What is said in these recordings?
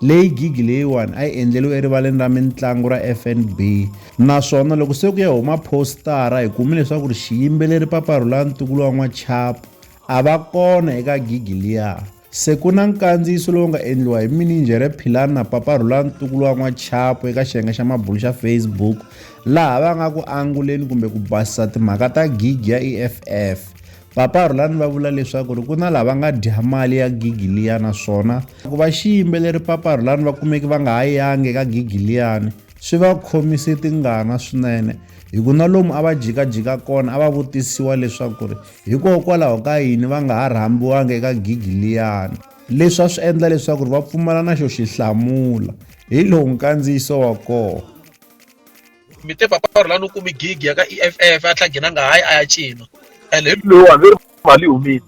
leyi gigi leyiwani a yi endleriwe erivaleni ra mitlangu ra fnb naswona loko se ku ya huma postara hi kume leswaku ri xiyimbeleri paparhula ntukulu wa n'wachapu a va kona eka gigi liya se ku na nkandziyiso lowu nga endliwa hi mininjhere philani na paparhula ntukulu wa n'wachapu eka xiyenge xa mabulu xa facebook laha va nga ku anguleni kumbe ku basisa timhaka ta gigi ya eff Papa Rhulani va vula leswaku ri ku na lava nga dya mali ya gigi liya naswona ku va xiyimbeleri Papa Rhulani va kumeki va nga ha yangi eka gigi liyani swi va khomise tingana swinene hi ku na lomu a va jikajika kona a va vutisiwa leswaku ri hikokwalaho ka yini va nga ha rhambiwangi eka gigi liyani leswi a swi endla leswaku ri va pfumala na xo xi hlamula hi lowu nkandziyiso wa kona mi te papa a rhulani u kumi gig ya ka e f f a tlha ghinanga hayi a ya cina and hi lowu hambi ri mali yi humile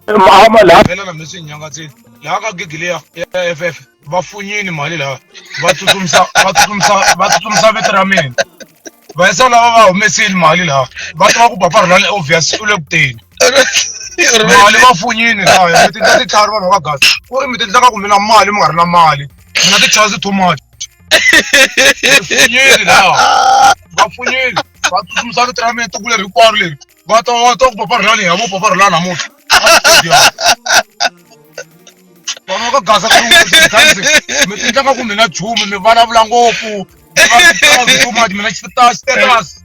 amalhelana mi swi nyangatsini laha ka gigi leya ya f f va funyini mali laha va tsutsumisa va tsutsumisa va tsutsumisa vito ra mina va yisa lava va humesile mali laha va tiva ku papa rhulani obvious u le kuteni mali va funyini laya mi tindla titlhari vanhu va gasi ku ri mi tindlaka ku mi na mali mi nga ri na mali mi na ti-chance too much vafunyeri lawa vafunyeri va tsutsumisa vito ra mina tiko leri hinkwaro leri va ta va ta ku papa rilani hi hamo papa rilani namuntlha vana ka gasa ka mi tindlaka ku mi na chumu mi vulavula ngopfu mi va titsaki too much mi na xitaxiterasi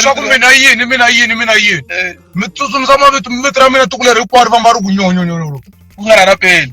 swa ku mina yini mina yini mina yini mi tsutsumisa mavito mivito ra mina tiko leri hinkwaro va nga ri ku nyonyonyonyolo ku nga ra na peni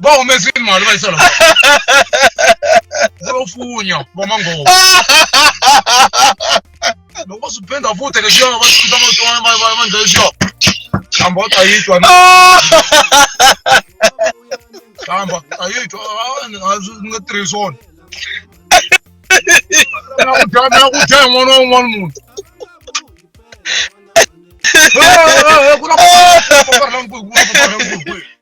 vha humesini mali vha isala vho funya vha mangoho loko swi penda futhi leswi va swi ta va va va va ndlela xo khamba ta yitwa na khamba ta yitwa a ni nga tirhisi wona na ku dya na ku dya hi n'wana wa un'wana munhu ku na ku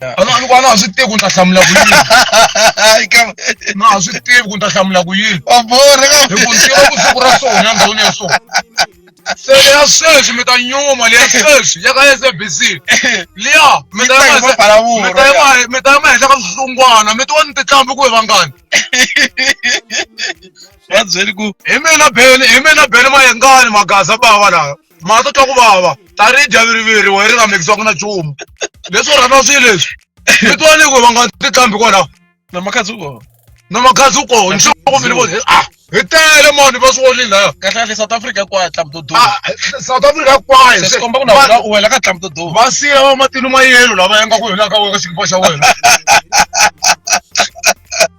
a na a ni ku a na ha swi tivi ku ni ta hlamula ku yini na ha swi tivi ku ni ta hlamula ku yini wa borha ka hi ku ni tiva ku siku ra sona ya ndhawini ya sona se leya sweswi mi ta nyuma leya sweswi ya ka sabc liya mi ta Yi ta hi ma- mapalavuro, mi ta yi ma- mi ta yi ma henhla ka swihlungwana mi tiwa ni titlhambi ku hi vangani va byeli ku hi mina beni hi mina beni mayengani magaza bava lawa ma ta twa ku vava tanihi javiriviri wa ri nga mikisiwaka na nchumu leswi u rhandza swilo leswi mi twa ni ku va nga ti tlambi kwalaho na makhadzi u kona na makhadzi u kona ni swaku mi ni voni a hi tele mani va swi vonile laya kahle kahle south africa hinkwayo tlambi to duma Ah, south africa hinkwayo se swi komba ku na wena u wela ka tlambi to duma va siya va matini ma yelo lava yanga ku hina ka wena ka xikipa xa wena